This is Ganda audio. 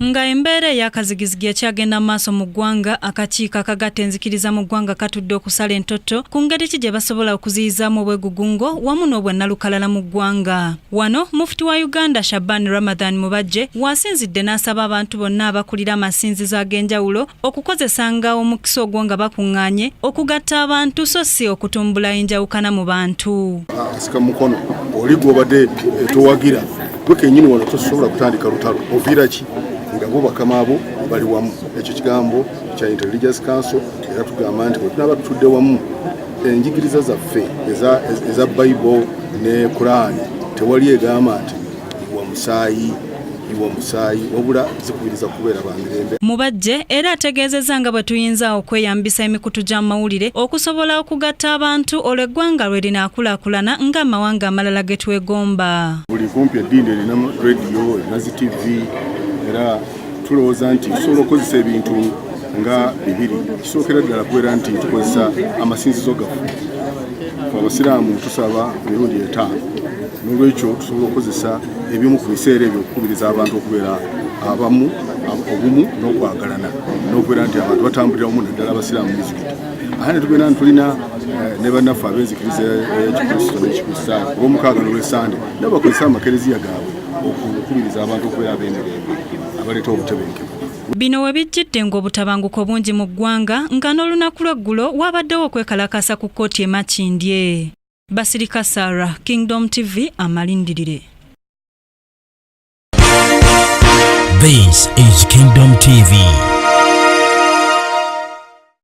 Nga embeera eyakazigizigi ekyagenda mu maaso mu ggwanga, akakiiko akagatta enzikiriza mu ggwanga katudde okusala entotto ku ngeri ki gye basobola okuziyizaamu obwegugungo wamu n'obwannalukalala mu ggwanga. Wano mufuti wa Uganda Shaban Ramadhan Mubajje waasinzidde n'asaba abantu bonna abakulira amasinzizo ag'enjawulo okukozesanga omukisa ogwo nga bakuŋŋaanye okugatta abantu so si okutumbula enjawukana mu bantu asika mukono oli gwobadde eh, towagira gwe kenyini wano tosobola kutandika lutalo oviira ki nga bo bakama abo bali wamu ekyo kigambo kya intelligence council era tugamba nti bwetunaba tutudde wamu enjigiriza zaffe eza bible ne kuraani tewali egamba nti iwa musaayi iwa musaayi wabula zikubiriza kubeera bamirembe mubajje era ategeezezza nga bwe tuyinza okweyambisa emikutu gy'amawulire okusobola okugatta abantu olwo eggwanga lwe linaakulaakulana ng'amawanga amalala ge twegomba buli kumpi eddiini erina rediyo erina zi tivi era Tulowooza nti tusobola okukozesa ebintu nga bibiri. Kisookera ddala kubeera nti tukozesa amasinzizo gaffe. Abasiraamu tusaba emirundi etaano, n'olwekyo tusobola okukozesa ebimu ku biseera ebyo okukubiriza abantu okubeera abamu obumu n'okwagalana n'okubeera nti abantu batambulira wamu naddala abasiraamu mizikiti ate ne tubeera ntulina eh, ne bannaffe ab'enzikiriza ekikristo eh, n'ekikristaayo olw'omukaaga n'olwesande nabo bakozesa amakereziya gaabwe okukubiriza abantu okubeera ab'emirembe abaleeta obutebenkevu Bino we bijjidde ng'obutabanguko bungi mu ggwanga nga n'olunaku lw'eggulo waabaddewo okwekalakaasa ku kkooti e Makindye. Basirika Sarah, Kingdom TV, amalindirire. This is Kingdom TV.